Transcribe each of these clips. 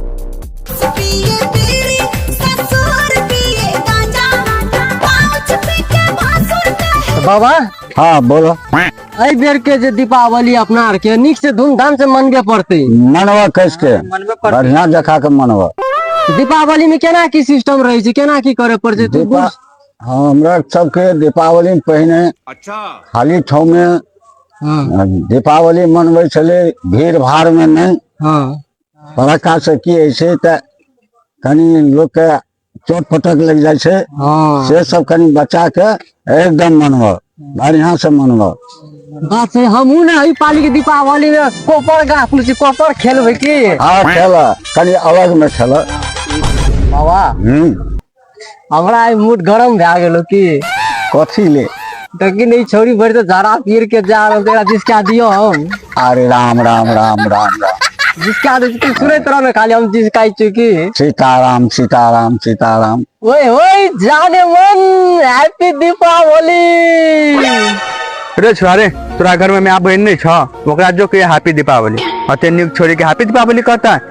पिए बीड़ी ससुर पिए गांजा पाउच पी के भासुर कहे बाबा हाँ बोलो एहि बेर के जे दीपावली अपना आर के नीक से धूमधाम से मनबे पड़ते मनवा कैस के बढ़िया जखा के मनवा दीपावली में केना की सिस्टम रहे छै केना की करे पड़े छै तू दीपा हमरा सबके दीपावली में पहिने अच्छा खाली ठाव में हँ आ दीपावली मनबै छलै भीड़ भाड़मे नहि हँ फड़क्का से की होइ छै तऽ कनि लोकके चोट पटक लागि जाइ छै हँ से सब कनि बच्चा के एकदम मनबऽ बढ़िया से मनबऽ बात छै हमहूँ ने एहि पाली के दीपावली में कोपर गाछ पुल छी कोपर खेलबै की आ खेलऽ कनि अलग में खेलऽ बाबा हूँ हमरा आइ मूड गरम भए गेलौ की कथी ले देखी ने ई छौड़ी भरि दिन झाड़ा पीर के जा रहल छै, एकरा जिसका दियौ हम अरे राम राम राम राम राम जिसका दै छी तू सुनैत रह ने खाली हम जिसकाइ छियौ की सीताराम सीताराम सीताराम ओए ओए जाने मन हैप्पी दीपावली रे छोरा रे तोरा घर में माय बहन नहीं छ ओकरा जो के हैप्पी दीपावली अते न्यू छोरी के हैप्पी दीपावली कहता है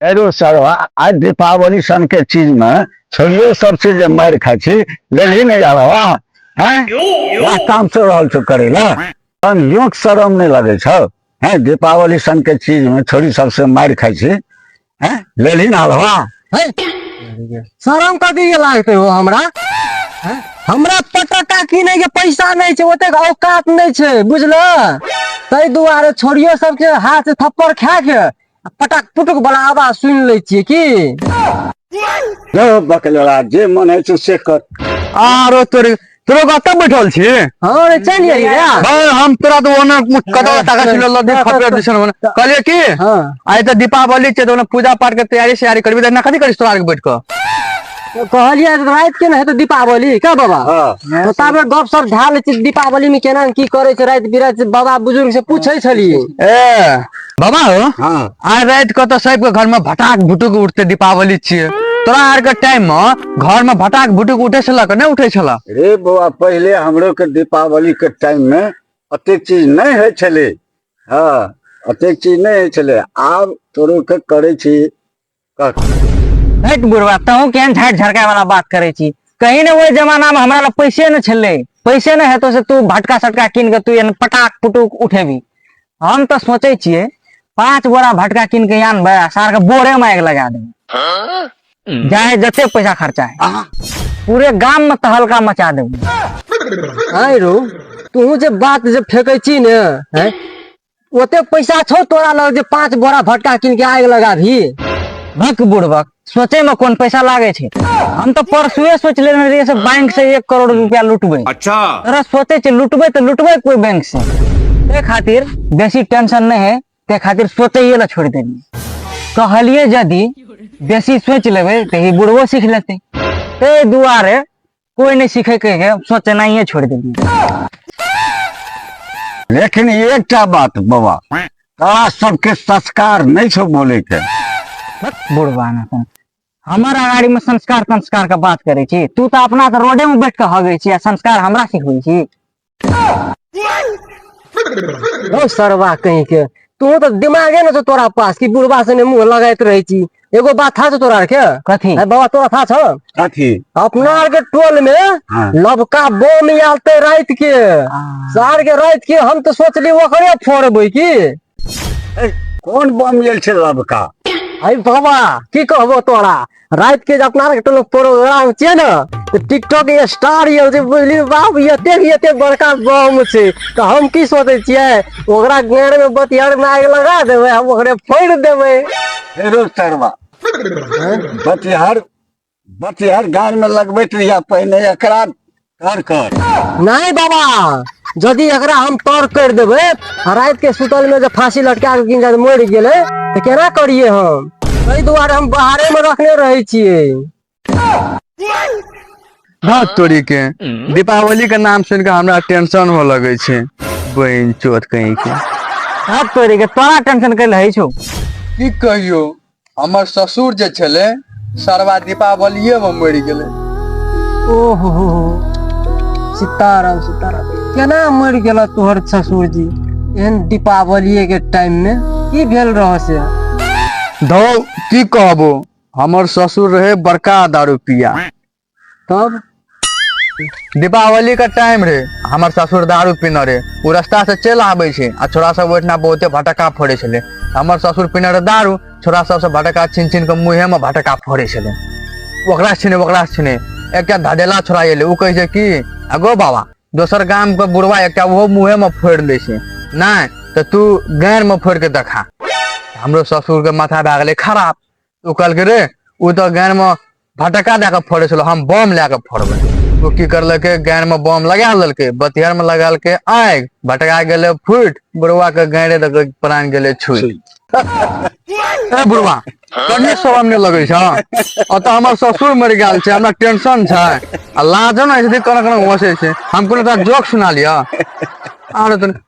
एरो सर आज दीपावली सन के चीज में छोड़ियो सब चीज जे मार खाय छी लेली नहीं जा रहा हैं या काम से रहल छो करे ला तन योक शरम नहीं लगे छो हैं दीपावली सन के चीज में छोड़ी सबसे मार खाय छी हैं लेली ना रहा शरम कथी के लागते हो हमरा हैं? हमरा पटाखा किने के पैसा नहीं छै ओतेक औकात नहीं छै बुझल ताहि दुआरे छोड़ियो सबके हाथ से थप्पड़ खा के आ पटक पुटुक बला आवाज सुनि लै छियै की यौ बकलोड़ा जे मन होइ छै से कर आरो तोरे तोरो कतऽ बैठल छी हँ रे चलि गेली रे भाय हम तोरा तो ओने कतौ ताका छिलो लदे खपे दिसन ओने कहलिए की हँ आइ तऽ दीपावली छै तऽ ओने पूजा पाठ के तैयारी सैयारी करबी तऽ एना कथी करिस तोरा आर के बैठ कऽ कहलियै तऽ राति के ने हेतै दीपावली का बाबा हँ। तो ताबे गप सप झा लै छी दीपावली में केना की करे छै राति बिराति बाबा बुजुर्ग से पूछे छलियै ए बाबा हो हाँ आइ राति के तऽ सबके घर में भटाक भुटुक उठते दीपावली छियै तोरा आर के टाइम में घर में भटाक भुटुक उठे छला के नहि उठे छला रे बौआ पहिले हमरो के दीपावली के टाइम में अतेक चीज नहीं है छले हाँ अतेक चीज नहीं है छले आब तोरो के करे छी हट बुढ़वा तहूँ केहन झाट झरकाय वाला बात करे छी कहीं ने ओहि जमाना में हमरा लग पैसे न छले पैसे न हेतो से तू भटका सटका कीन के तू एहन पटाक पुटुक उठेबी हम तो सोचे छिए पांच बोरा भटका कीन के यान बड़ा सार के बोरे में आग लगा देबे जाए जते पैसा खर्चा है पूरे गाम में तहलका मचा देबे आय रो तू जे बात जे फेंकै छी ने हैं ओते पैसा छौ तोरा लग जे पांच बोरा भटका किन के आग लगा भी भक बुड़बक सोचे में कोन पैसा लागे छै हम तो परसुए सोच लेने रहिए से बैंक से एक करोड़ रुपया लुटबे अच्छा तोरा सोचे छै लुटबे तो लुटबे कोई बैंक से ते खातिर बेसी टेंशन नहीं है ते खातिर सोचे ये ला छोड़ देनी कहलिए यदि बेसी सोच लेबे तो ही बुढ़वो सीख लेते ते दुआरे कोई नहीं सीखे के है सोचे नहीं है छोड़ देलिए लेकिन एकटा बात बाबा तोरा सबके संस्कार नहीं छो बोले के बुढ़वा ना अपन हमारा गाड़ी में संस्कार संस्कार का बात करे छी तू तो अपना तो रोडे में बैठ के हगे छी आ संस्कार हमरा सिखबै छी ओ सरवा कहीं के तू तो दिमाग है ना तो तोरा पास कि बुढ़वा से ने मुंह लगाइत रहे छी एगो बात था तोरा आर के कथी अरे बाबा तोरा था छ कथी अपना आर के टोल में हाँ। लबका बम आलते रात के सार के रात के हम तो सोचली ओकरे फोड़बै की कोन बम लेल छै लबका अरे बाबा की कहबो तोरा रात के अपना आर के लोग प्रोग्राम छै ने तो टिकटॉक के स्टार ये जे बुझली बाप एते भी एते बड़का बम छै तो हम की सोचे छियै ओकरा गेर में बतियार में आग लगा देबै हम ओकरे फोड़ देबै फेरो सरवा बतिहार बटियार गाड़ में लगबैत रहिया पहिने एकरा कर कर नहीं बाबा यदि एकरा हम तौर कर देबे आ रात के सुतल में जे फांसी लटका के गिन जाए मर गेले तो केना करिए हम ताहि दुआरे हम बाहरे में रखने रहे छिए हाँ तोरी के दीपावली के नाम सुन के हमरा टेंशन हो लगे छे बहन चोत कहीं के हाथ तोड़े के तोरा टेंशन कर रहे छो की कहियो हमर ससुर जे छलै सरवा दीपावलिये में मरि गेलै ओहो हो हो। सीताराम सीताराम केना मरि गेल तोहर ससुर जी एहन दीपावलिये के टाइम में की भेल रह से धौ की कहबो हमर ससुर रहे बड़का दारू पिया तब दीपावली का टाइम रे हमर ससुर दारू पीने रे ओ रास्ता से चलि आबै छै आ छोरा सब ओहिठिना बहुते भटका फोड़ै छलै हमर ससुर पीने रे दारू छोरा सबसँ भटका छीन छीन कऽ मुँहेमे भटका फोड़ै छलै ओकरा छिने ओकरा छिने एकटा धडेला छोरा एलै ओ कहै छै कि अगो बाबा दोसर गामके बुढ़वा एकटा ओहो मुँहेमे फोड़ि लै छै नहि तऽ तू गाँरमे फोड़ि कऽ देखा हमरो ससुरके माथा भए गेलै खराब ओ कहलकै रे ओ तऽ गान मे फटक्का दए कऽ फोड़ै छलौ हम बम लए कऽ फोड़बै ओ की करलकै गान मे बम लगा लेलकै बतिहर मे लगलकै आगि भटका गेलै फूटि बुढ़वा के गाड़े दऽ कऽ प्राण गेलै छुई ए बुढ़वा कन्ने शरम नहि लगै छ अतः हमर ससुर मरि गेल छै हमरा टेंशन छै आ लाजो नहि छै कने कने घोसै छै हम कोनो तोरा जोक सुना लिअ आरो तोरा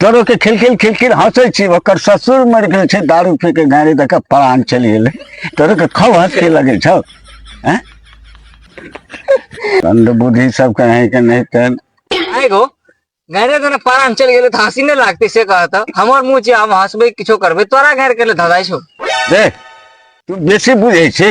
तोरो के खिलखिल खिलखिल हंसै छी ओकर ससुर मरि गेल छै दारू पी के गाड़ी दऽ के प्राण चलि गेलै तोरो के खूब हंसी लगै छौ हैं दंड बुद्धि सब कहीं के नहीं तेन आइ गो गाड़ी दऽ के प्राण चलि गेलै तऽ हँसी नहि लागतै से कहत हमर मुँह छै हम हँसबै किछो करबै तोरा गाड़ी के लेल धधाइ छौ देख तू बेसी बुझै छी